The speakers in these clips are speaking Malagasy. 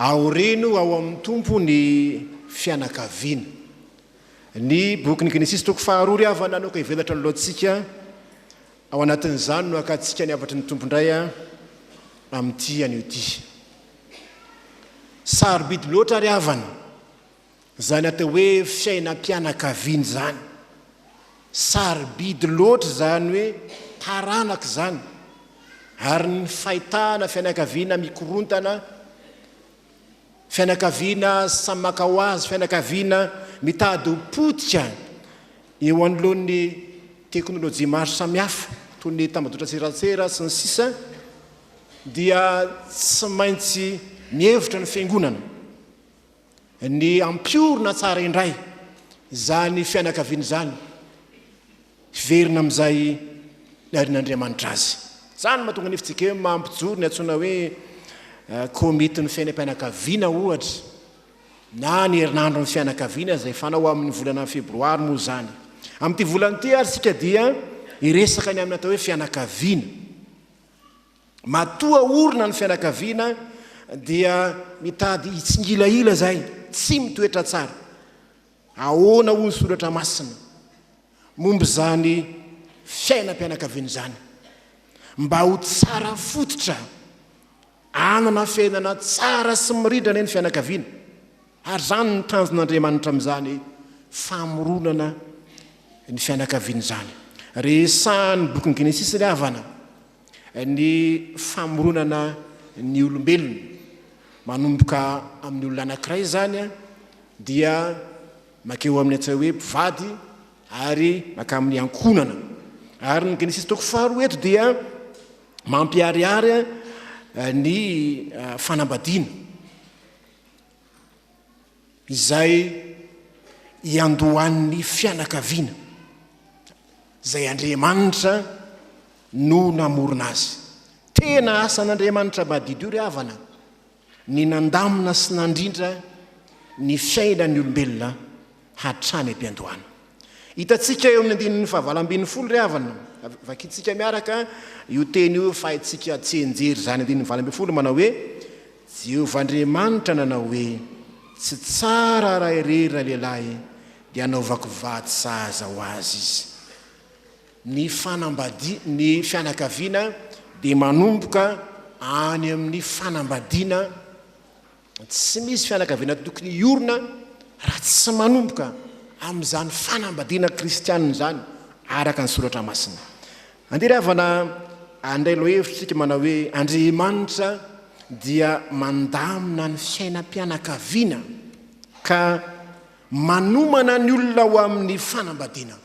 Aoreno ao amin'ny Tompo ny fianakaviana. Ny bokin'ny Genesisy toko faharoa ry havana no ka hivelatra ny lohantsika, ao anatin'izany no hakantsika ny hafatry ny Tompo indray amin'ity anio ity. Sarobidy loatra ry havana Izany atao hoe fiainam-pianakaviana izany. Sarobidy loatra izany hoe taranaka izany, ary ny fahitana fianakaviana mikorontana, fianakaviana samy maka ho azy, fianakaviana mitady ho potika eo anoloan'ny teknolojia maro samihafa toy ny tambajotran-tserasera sy ny sisa dia tsy maintsy mihevitra ny Fiangonana. Ny hampiorina tsara indray izany fianakaviana izany, hiverina amin'izay niarin'Andriamanitra azy. Izany no mahatonga ny FJKM mampijoro ny antsoina hoe Komitin'ny Fiainam-pianakaviana, ohatra, na ny Herinandron'ny Fianakaviana, izay fanao amin'ny volana febroary moa izany. Amin'ity volana ity ary isika dia hiresaka ny amin'ny atao hoe fianakaviana. Matoa orina ny fianakaviana dia mitady hitsingilahila izay tsy mitoetra tsara. Ahoana hoy ny soratra masina momba izany fiainam-pianakaviana izany? Mba ho tsara fototra hanana fiainana tsara sy mirindra anie ny fianakaviana. Ary izany no tanjon'Andriamanitra amin'izany famoronana ny fianakaviana izany. Resahan'ny bokin'ny Genesisy ry havana ny famoronana ny olombelona. Manomboka amin'ny olona anankiray izany dia mankeo amin'ny atao hoe mpivady ary mankamin'ny ankohonana. Ary ny Genesisy toko faharoa eto dia mampiharihary ny fanambadiana. izay iandohan'ny fianakaviana izay Andriamanitra no namorona azy. Tena asan'Andriamanitra madidio ry havana ny nandamina sy nandrindra ny fiainan'ny olombelona hatrany am-piandohana. Hitantsika eo amin'ny andininy fahavalo ambin'ny folo ry havana, vakintsika miaraka io teny io fa haintsika tsianjery izany andininy valo ambin'ny folo manao hoe, Jehovah Andriamanitra nanao hoe, Tsy tsara raha irery ilay lehilahy, dia hanaovako vady sahaza ho azy izy. Ny fanambadi, ny fianakaviana dia manomboka any amin'ny fanambadiana Tsy misy fianakaviana tokony hiorina raha tsy manomboka amin'izany fanambadiana kristianina izany araka ny soratra masina. Andeha ry havana handray lohevitr'isika manao hoe Andriamanitra dia mandamina ny fiainam-pianakaviana ka manomana ny olona ho amin'ny fanambadiana.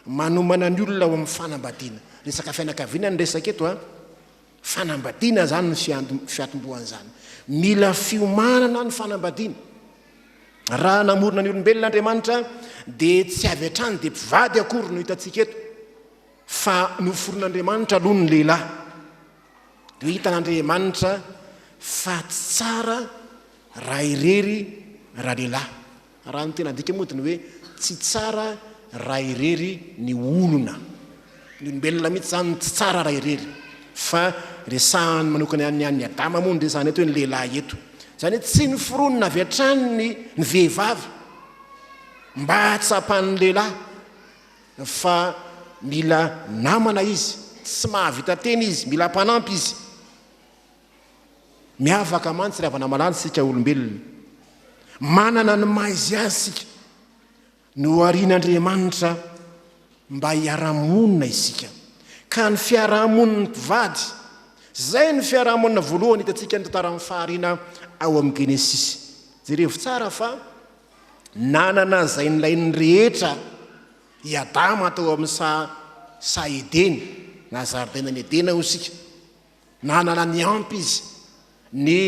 Manomana ny olona ho amin'ny fanambadiana. Resaka fianakaviana no resaka eto a. Fanambadiana izany no fiantombohan'izany. Mila fiomanana ny fanambadiana. Raha namorona ny olombelona Andriamanitra dia tsy avy hatrany dia mpivady akory no hitantsika eto fa noforon'Andriamanitra aloha ny lehilahy. Dia hitan'Andriamanitra fa tsy tsara raha irery ralehilahy. Raha ny tena adika moa dia ny hoe tsy tsara raha irery ny olona. Ny olombelona mihitsy izany no tsy tsara raha irery. Fa resahany manokana ihany ny an'i Adama moa no resahana eto hoe ny lehilahy eto. Izany hoe tsy noforonina avy hatrany ny ny vehivavy mba hahatsapan'ny lehilahy fa mila namana izy, tsy mahavita tena izy, mila mpanampy izy. Miavaka mantsy ry havana malala isika olombelona. Manana ny maha izy azy isika. Noharian'Andriamanitra mba hiara-monina isika. Ka ny fiarahamonin'ny mpivady, izay no fiarahamonina voalohany hitantsika ny tantaran'ny fahariana ao amin'ny Genesisy. Jerevo tsara fa nanana izay nilain'ny rehetra i Adama tao amin'ny saha saha Edena, na zaridainan'i Edena hoy isika. Nanana ny ampy izy, ny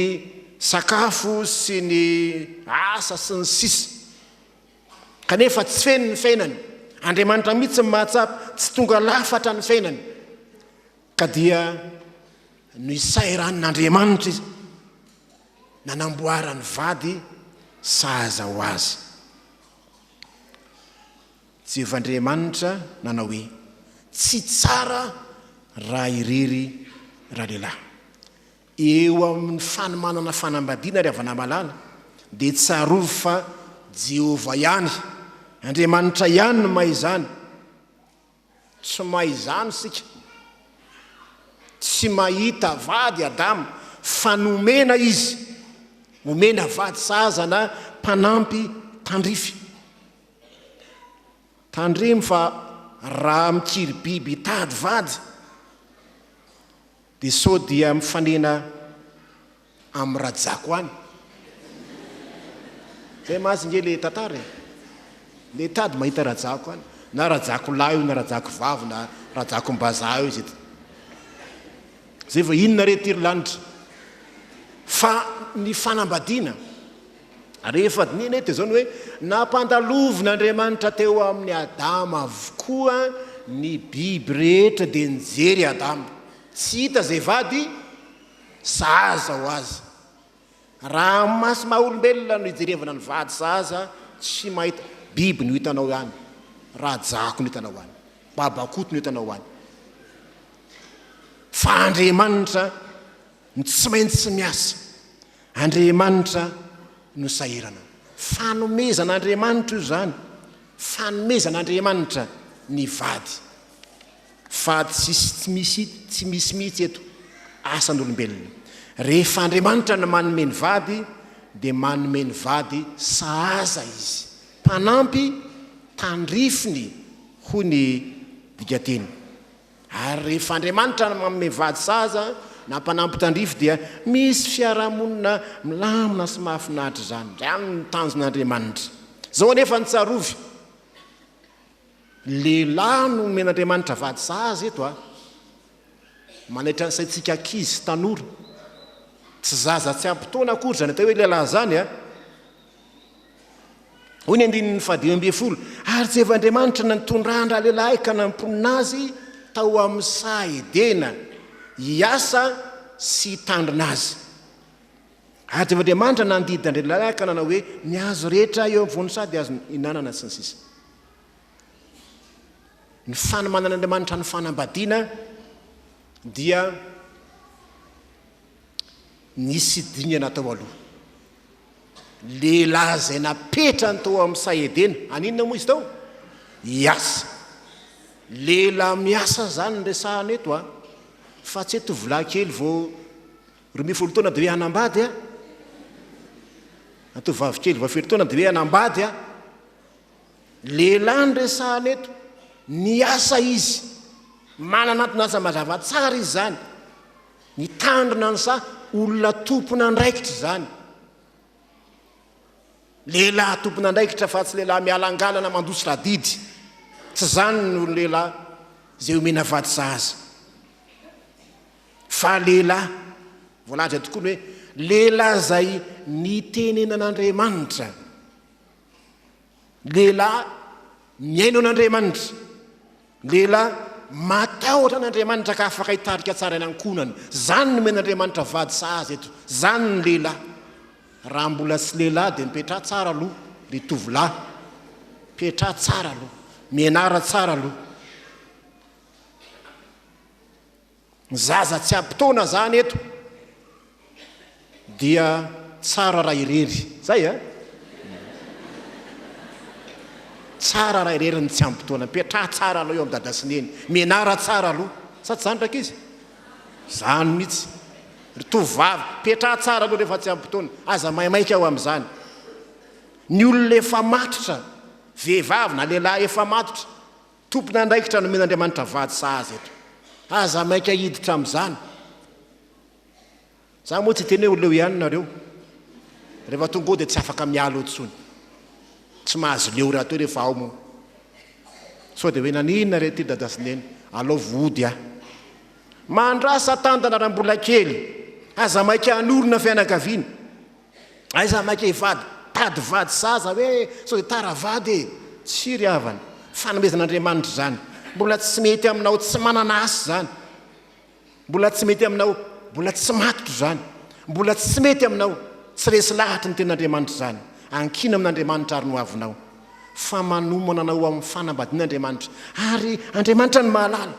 sakafo sy ny asa sy ny sisa Kanefa tsy feno ny fiainany, Andriamanitra mihitsy no mahatsapa, tsy tonga lafatra ny fiainany ka dia noisairan'Andriamanitra izy nanamboarany vady sahaza ho azy. Jehovah Andriamanitra nanao hoe, Tsy tsara raha irery ralehilahy. Eo amin'ny fanomanana fanambadiana, ry havana malala, dia tsarovy fa Jehovah ihany, Andriamanitra ihany no mahay izany. Tsy mahay izany isika. Tsy mahita vady i Adama, fa nomena izy. Omena vady sahaza na mpanampy tandrify. Tandremo fa raha mikiribiby hitady vady dia sao dia mifanena amin'i Rajako any. Zay mazy nge le tantara e. Le tady mahita Rajako any. Na Rajako lahy io na Rajako vavy na Rajako mbazaha io zay. Zay vao inona re ty ry lanitra. Fa ny fanambadiana Rehefa dinihina eto dia izao ny hoe, Nampandalovn'Andriamanitra teo amin'i Adama avokoa ny biby rehetra dia nijery i Adama, tsy hita izay vady sahaza ho azy. Raha amin'ny maso maha olombelona no ijerevana ny vady sahaza, tsy mahita, biby no hitanao any, rajako no hitanao any, babakoto no hitanao any. Fa Andriamanitra no tsy maintsy miasa. Andriamanitra no sahirana. Fanomezan'Andriamanitra io izany. Fanomezan'Andriamanitra ny vady. Vady sisy tsy misy, tsy misy mihitsy eto, asan'olombelona. Rehefa Andriamanitra no manome ny vady, dia manome ny vady sahaza Izy. Mpanampy tandrifiny, hoy ny dikanteny. Ary rehefa Andriamanitra no manome vady sahaza na mpanampy tandrify dia misy fiarahamonina milamina sy mahafinaritra izany. Izany no tanjon'Andriamanitra. Izao anefa no tsarovy, lehilahy no omen'Andriamanitra vady sahaza eto a! Manaitra ny saintsika ankizy sy tanora. Tsy zaza tsy ampy taona akory izany atao hoe lehilahy izany a! Hoy ny andininy fahadimy ambin'ny folo, ary Jehovah Andriamanitra no nitondra an-dralehilahy ka namponina azy tao amin'ny saha Edena hiasa sy hitandrina azy. Ary Jehovah Andriamanitra nandidy an-dralehilahy ka nanao hoe, Ny hazo rehetra eo amin'ny voan'ny saha dia azonao ihinanana, sy ny sisa Ny fanomanan'Andriamanitra ny fanambadiana dia nisy dingana tao aloha. Lehilahy izay napetrany tao amin'ny saha Edena. Haninona moa izy tao? Hiasa. Lehilahy miasa izany no resahana eto a. Fa tsy hoe tovolahy kely vao roa ambin'ny folo taona dia hoe hanambady a. Atovovavy kely vao fito taona dia hoe hanambady a. Lehilahy no resahana eto. Niasa izy. Manana antony asa mazava tsara izy izany. Nitandrina an'izaho, olona tompon'andraikitra izany. Lehilahy tompon'andraikitra fa tsy lehilahy mialangalana mandositra adidy. Tsy izany ny olon-dehilahy izay omena vady sahaza. Fa lehilahy, voalaza tokoa ny hoe lehilahy izay nitenenan'Andriamanitra. Lehilahy mihaino an'Andriamanitra, lehilahy matahotra an'Andriamanitra ka afaka hitarika tsara ny ankohonany. Izany nomen'Andriamanitra vady sahaza eto. Izany ny lehilahy. Raha mbola tsy lehilahy dia mipetraha tsara aloha ry tovolahy. Mipetraha tsara aloha. Mianara tsara aloha. Ny zaza tsy ampy taona zany eto dia tsara raha irery, zay a! Tsara raha irery ny tsy ampy taona, mipetraha tsara aloha eo am dada sy neny, mianara tsara aloha, sa tsy zany rankizy? Zany mitsy, ry tovovavy, mipetraha tsara aloha rehefa tsy ampy taona, aza maimaika eo amzany, ny olona efa matotra, vehivavy na lehilahy efa matotra, Tompon'andraikitra nomen'Andriamanitra vady sahaza eto. Aza maika hiditra amin'izany. Za moa tsy hiteny hoe leo ihany nareo. Rehefa tonga ao dia tsy afaka miala eo intsony. Tsy mahazo leo rahateo rehefa ao moa. Sao dia hoe naninona re ity dada sy neny. Alao vody aho. Mandrasa tandana raha mbola kely. Aza maika hanorina fianakaviana. Aiza maika hivady? Tady vady saza hoe sao dia tara vady e! Tsia ry havana, fanomezan'Andriamanitra izany. Mbola tsy mety aminao tsy manana asa izany. Mbola tsy mety aminao mbola tsy matotra izany. Mbola tsy mety aminao tsy resy lahatry ny tenin'Andriamanitra izany. Ankina amin'Andriamanitra ary ny hoavinao. Fa manomana anao ho amin'ny fanambadian'Andriamanitra. Ary Andriamanitra no mahalala.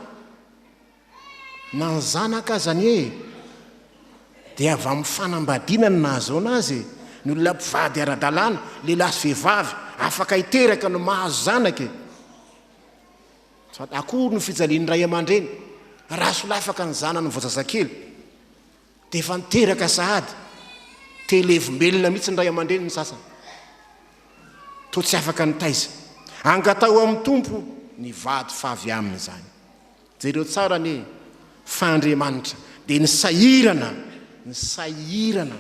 Na ny zanaka aza anie e! Dia avy amin'ny fanambadiana no nahazoana azy e! Ny olona mpivady ara-dalàna, lehilahy sy vehivavy, afaka hiteraka no mahazo zanaka e! Sady akory no fijalian'ny ray aman-dreny raha solafaka ny zanany vao zazakely dia efa niteraka sahady! Te hilevom-belona mihitsy ny ray aman-dreny ny sasany, toa tsy afaka nitaiza. Angataho amin'ny Tompo ny vady favy aminy izany. Jereo tsara anie fa Andriamanitra dia nisahirana, nisahirana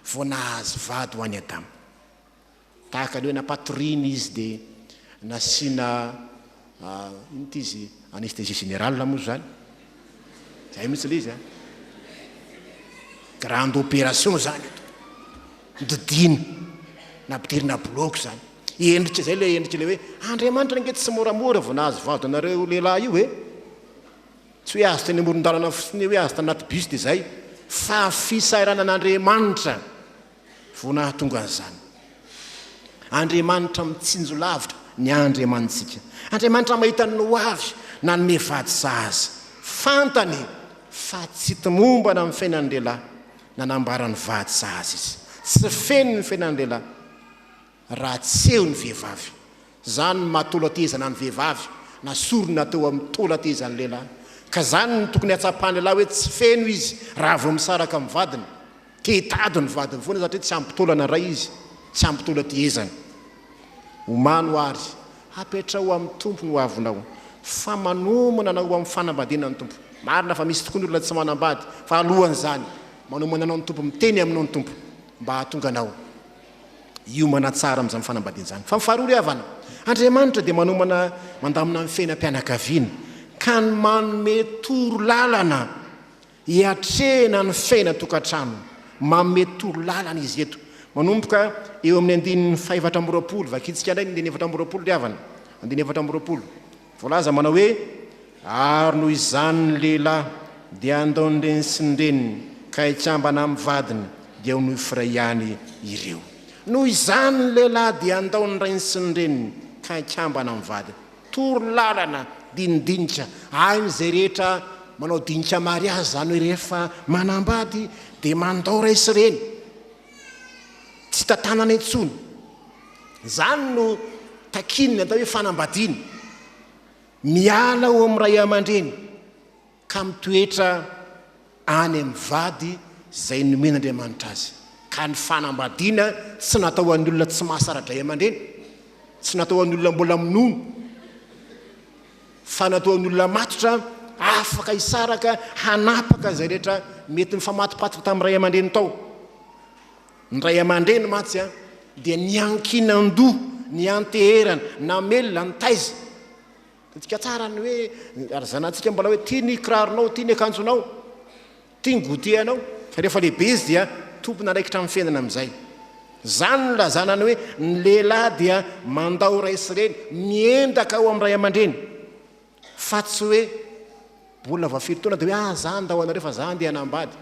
vao nahazo vady ho an'i Adama. Tahaka ny hoe nampatoriany izy dia nasiana inona ity izy, anesthésie générale moa izany, izay mihitsy ilay izy an, grande opération izany. Didina na bdiry na blogy zany endrika izay ilay endrika ilay hoe Andriamanitra ange tsy moramora vao nahazo vady anareo lehilahy io e! Tsy hoe azo teny amoron-dalana fotsiny hoe azo tany anaty bus dia izay fa fisahiranan'Andriamanitra vao nahatonga an'izany. Andriamanitra mitsinjo lavitra ny andriamanitsika. Andriamanitra mahita ny ho avy nanome vady sahaza. Fantany fa tsy tomombana amin'ny fiainan'ny lehilahy Nanambara ny vady sahaza izy. Tsy feno ny fiainan'ny lehilahy raha tsy eo ny vehivavy. Izany no maha taola tehezana ny vehivavy na sorona teo amin'ny taola tehezan'ny lehilahy. Ka izany no tokony hatsapan'ny lehilahy hoe tsy feno izy raha vao misaraka amin'ny vadiny. Te hitady ny vadiny foana satria tsy ampy taolana iray izy, tsy ampy taola tehezana. Omano ary apetraho amin'ny Tompo ny hoavinao, fa manomana anao ho amin'ny fanambadiana ny Tompo. Marina fa misy tokoa ny olona tsy manambady, fa alohan'izany, manomana anao ny Tompo, miteny aminao ny Tompo mba hahatonga anao hiomana tsara amin'izany fanambadiana izany. Fa ny faharoa ry havana, Andriamanitra dia manomana mandamina ny fiainam-pianakaviana, ka ny manome toro lalana. Hiatrehina ny fiaina tokantrano. Manome torolalana izy eto, manomboka eo amin'ny andininy fahefatra amby roapolo. Vakintsika indray ny andininy efatra amby roapolo ry havana. Andininy efatra amby roapolo. Voalaza manao hoe, Ary noho izany ny lehilahy dia handao ny reniny sy ny reniny, ka hikambana amin'ny vadiny, dia ho nohifray ihany ireo. Noho izany ny lehilahy dia handao ny rainy sy ny reniny, ka hikambana amin'ny vadiny. Toro lalana, dinindinika, hain' izay rehetra manao dinika mariazy, izany hoe rehefa manambady dia mandao ray sy reny, tsy tantanana intsony. Izany no takian'ny atao hoe fanambadiana, miala ao amin'ny ray aman-dreny. ka mitoetra any amin'ny vady izay nomen'Andriamanitra azy, ka ny fanambadiana tsy natao ho an'ny olona tsy mahasara-dray aman-dreny, tsy natao ho an'ny olona mbola minono, fa natao ho an'ny olona matotra, afaka hisaraka, hanapaka izay rehetra mety nifamatopatoka tamin'ny ray aman-dreny tao. Ny ray aman-dreny mantsy dia niankinan-doha, nianteherana, namelona, nitaiza. Todika tsara ny hoe ry zanantsika mbola hoe tia ny kiraronao, tia ny akanjonao, tia ny goûter-nao. Fa rehefa lehibe izy dia tompon'andraikitra amin'ny fiainana amin'izay. Izany no ilazana ny hoe ny lehilahy dia mandao ray sy reny, miendaka ao amin'ny ray aman-dreny. Fa tsy hoe mbola vao firy taona dia hoe ah za handao anareo fa za andeha hanambady.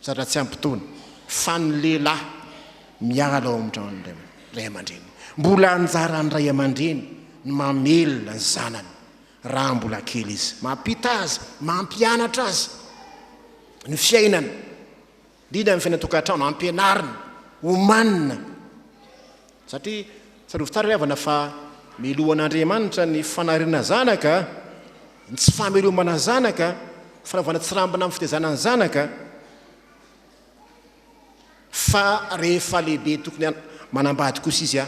Zatra tsy ampy taona fa ny lehilahy miala ao amin'ny tranon'ny ray aman-dreniny. Mbola anjaran'ny ray aman-dreny ny mamelona ny zanany raha mbola kely izy, mampita azy, mampianatra azy ny fiainana, indrindra ny fiainan-tokantrano, ampianarina, omanina. Satria tsarovy tsara ry havana fa meloha an'Andriamanitra ny fanariana zanaka, ny tsy famelomana zanaka, fanaovana tsirambina amin'ny fitaizana ny zanaka, fa rehefa lehibe tokony manambady kosa izy a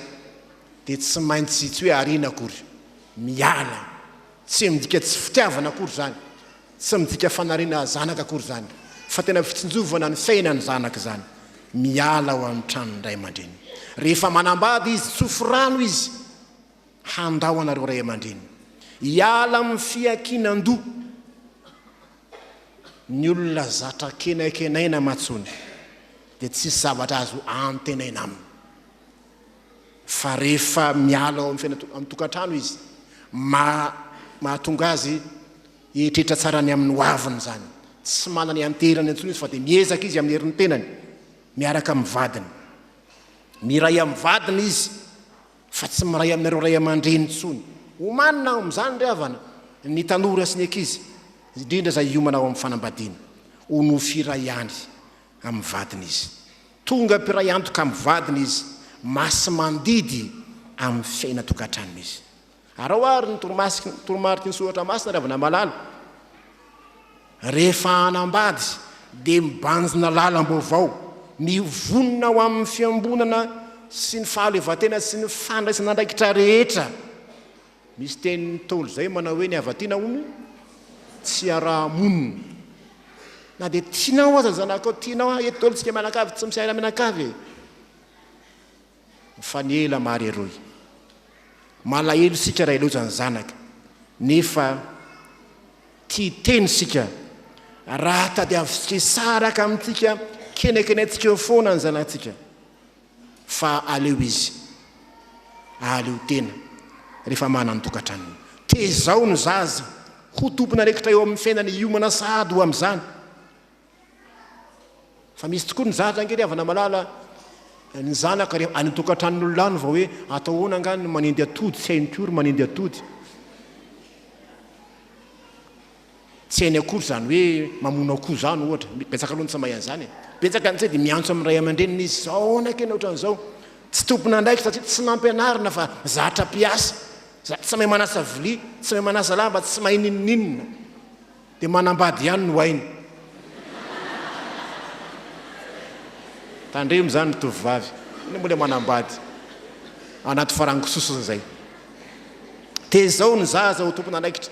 dia tsy maintsy tsy hoe ariana akory, miala, tsy midika tsy fitiavana akory izany. Tsy midika fanariana zanaka akory izany fa tena fitsinjovana ny fiainana ny zanaka izany miala ao amin'ny tranon'ny ray aman-dreny. Rehefa manambady izy, tsofy rano izy handao anareo ray aman-dreny. Hiala amin'ny fiankinan-doha ny olona zatra kenaikenaina aman-tsony dia tsy hisy zavatra azo antenaina aminy. Fa rehefa miala ao amin'ny fiainana amin'ny tokantrano izy, mahatonga azy Eritreritra tsara ny amin'ny hoaviny izany. Tsy manana ianteherana intsony izy fa dia miezaka izy amin'ny herin'ny tenany, miaraka amin'ny vadiny. Miray amin'ny vadiny izy fa tsy miray aminareo ray aman-dreny intsony. Omanina ao amin'izany ry havana ny tanora sy ny ankizy, indrindra izay hiomana ao amin'ny fanambadiana. Ho nofy iray ihany amin'ny vadiny izy. Tonga mpiray antoka amin'ny vadiny izy, masimandidy amin'ny fiainan-tokantranony izy. Araho àry ny toromariky ny soratra masina, ry havana malala. Rehefa hanambady, dia mibanjina lalam-baovao, mivonona ho amin'ny fiambonana sy ny fahaleovantena sy ny fandraisana andraikitra rehetra. Misy teny Ntaolo izay manao hoe ny havatiana hono tsy iaraha-monina. Na dia tianao aza ny zanakao, tianao, eto daholo isika mianakavy, tsy misy haila mianakavy e. Mifanela mari eroy. Malahelo isika raha hiloza ny zanaka nefa tia hiteny isika raha tadiavintsika hisaraka amintsika kenekenehintsika eo foana ny zanatsika fa aleo izy ahaleo tena rehefa manan-tokatranony. Tezao ny zaza ho tompon'andraikitra eo amin'ny fiainany hiomana sahady ho amin'izany. Fa misy tokoa ny zaza ange ry havana malala ny zanaka rehefa any an-tokantranon'olona any vao hoe atao ahoana angaha ny manendy atody tsy hainy koa ry manendy atody. Tsy hainy akory izany hoe mamono akoho izany ohatra. Betsaka aloha ny tsy mahay an'izany e. Betsaka ny tsy hainy dia miantso amin'ny ray aman-dreniny izy sao ahoana ange ny ohatran'izao. Tsy tompon'andraikitra satria tsy nampianarina fa zatra mpiasa. Tsy mahay manasa vilia, tsy mahay manasa lamba, tsy mahay n'inon'inona. Dia manambady ihany no hainy. Tandremo izany ry tovovavy. Inona moa ilay manambady anaty farangisosiny izay. Tezao ny zaza ho tompon'anaikitra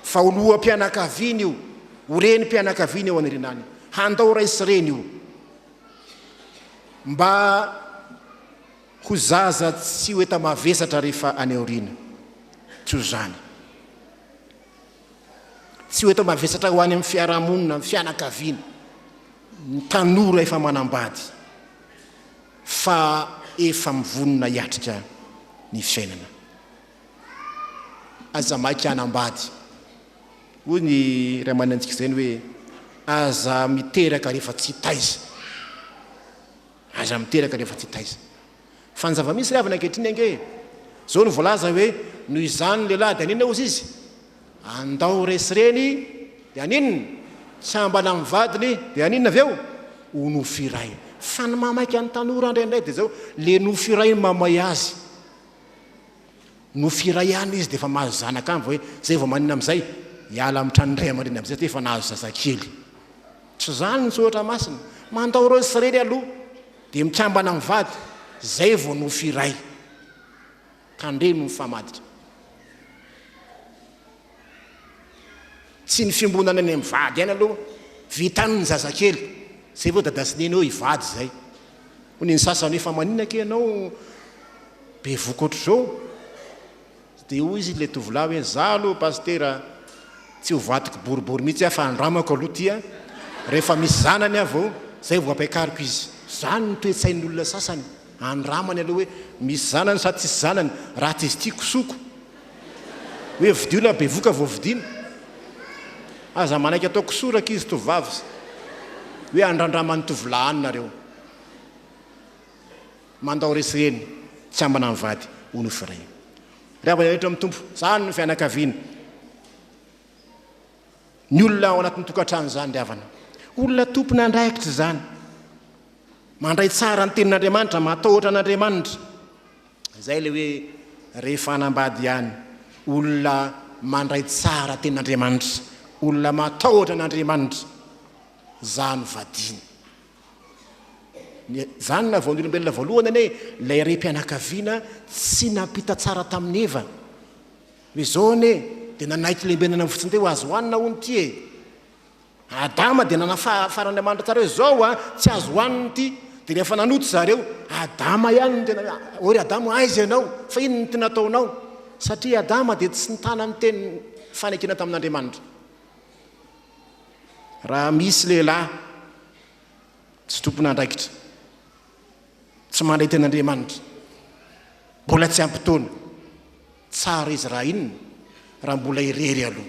fa ho loham-pianakaviana io, ho renim-pianakaviana eo anilinaany. Handao ray sy reny io. Mba ho zaza tsy ho enta-mavesatra rehefa any aoriana. Tsy ho izany. Tsy ho eto mavesatra ho any amin'ny fiarahamonina, amin'ny fianakaviana, ny tanora efa manambady fa efa mivonona hiatrika ny fiainana. Aza maika hanambady. Hoy ny iray aman'antsika izay ny hoe, aza miteraka rehefa tsy taiza. Aza miteraka rehefa tsy taiza. Fa ny zava-misy ry havana ankehitriny ange e! Zao no voalaza hoe noho izany ny lehilahy dia haninona hozy izy? Andao resy reny dia haninona? Tsy hambana amin'ny vadiny dia haninona avy eo? Ho nofy iray. Fa ny mahamaika ny tanora indraindray dia zao, le nofy iray no mahamay azy. Nofy iray ihany izy dia efa mahazo zanaka any vao hoe zay vao maninona amin'izay? Hiala amin'ny tranon'ny ray aman-dreny amin'izay satria efa nahazo zazakely. Tsy izany ny soratra masina. Mandao resy reny aloha. Dia mikambana mivady, izay vao nofy iray. Tandremo ny famaditra. Tsy ny fiombonana any amin'ny vady any aloha, vitan'ny ny zazakely, izay vao dada sy neny eo hivady izay. Hoy ny sasany hoe fa maninona kay ianao be voky ohatr'izao? Dia hoy izy ilay tovolahy hoe, izaho aloha Pasitera tsy ho vadiko boribory mihitsy aho fa andramako aloha ity a! rehefa misy zanany aho vao, izay vao ampiakariko izy. Izany no toe-tsain'ny olona sasany, andramany aloha hoe misy zanany sa tsisy zanany, raha tsy izy ity kosoko, hoe vidio na bevoka vao vidiana. Aza manaiky atao kisoa rankizy tovovavy hoe andrandraman'ny tovolahy any nareo. Mandao resy reny tsy ambana ny vady hono i Fray. Ry havana rehetra amin'ny Tompo, izany no fianakaviana. Ny olona ao anatin'ny tokantrano izany ry havana. Olona tompon'andraikitra izany. Mandray tsara ny tenin'Andriamanitra, matahotra an'Andriamanitra. Izay ilay hoe rehefa hanambady ihany, olona mandray tsara tenin'Andriamanitra, olona matahotra an'Andriamanitra, izaho no vadiany. Ny zanona vao ny olombelona voalohany anie ilay rem-pianakaviana tsy nampita tsara tamin'i Eva. Noho izao anie dia nanaiky lembenana ny fotsiny teo azo hohanina hono ity e. Adama dia nanafaran'Andriamanitra tsara hoe izao a, tsy azo hohanina ity. Dia rehefa nanota zareo, Adama ihany no tena hoe ry Adama aiza ianao? Fa inona no tena ataonao? Satria Adama dia tsy nitana ny teny fanekena tamin'Andriamanitra. Raha misy lehilahy tsy tompon'andraikitra, tsy mandray tena Andriamanitra, mbola tsy ampy taona, tsara izy raha inona? Raha mbola irery aloha.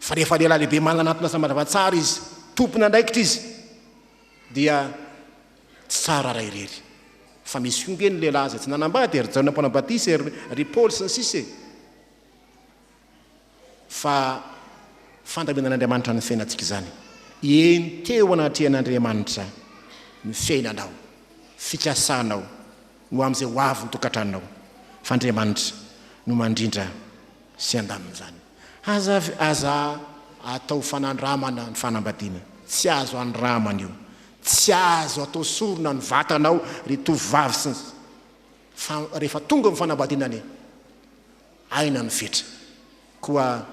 Fa rehefa lehilahy lehibe manana anton'asa mazava tsara izy, tompon'andraikitra izy, dia tsy tsara raha irery. Fa misy koa ange ny lehilahy izay tsy nanambady e, ry Jaona Mpanao Batisa e, ry Paoly sy ny sisa e. fa fandaminan'Andriamanitra ny fiainantsika izany. Enteo anatrehan'Andriamanitra ny fiainanao, fikasanao, ho amin'izay ho avy ny tokantranonao, fa Andriamanitra no mandrindra sy handamina izany. Aza, aza atao fanandramana ny fanambadiana. Tsy azo andramana io. Tsy azo atao sorona ny vatanao ry tovovavy sy ny, fa rehefa tonga ny fanambadiana anie. Aina ny fetra. Koa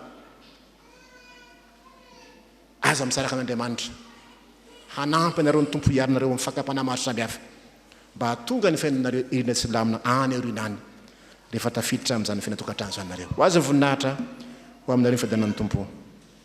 aza misaraka an'Andriamanitra. Hanampy anareo ny Tompo hiaro anareo amin'ny fakam-panahy maro samihafa, mba hahatonga ny fiainanareo irina sy lamina any aoriana any, rehefa tafiditra amin'izany fiainan-tokantrano izany nareo. Ho azy ny voninahitra, ho aminareo ny fiadanan'ny Tompo.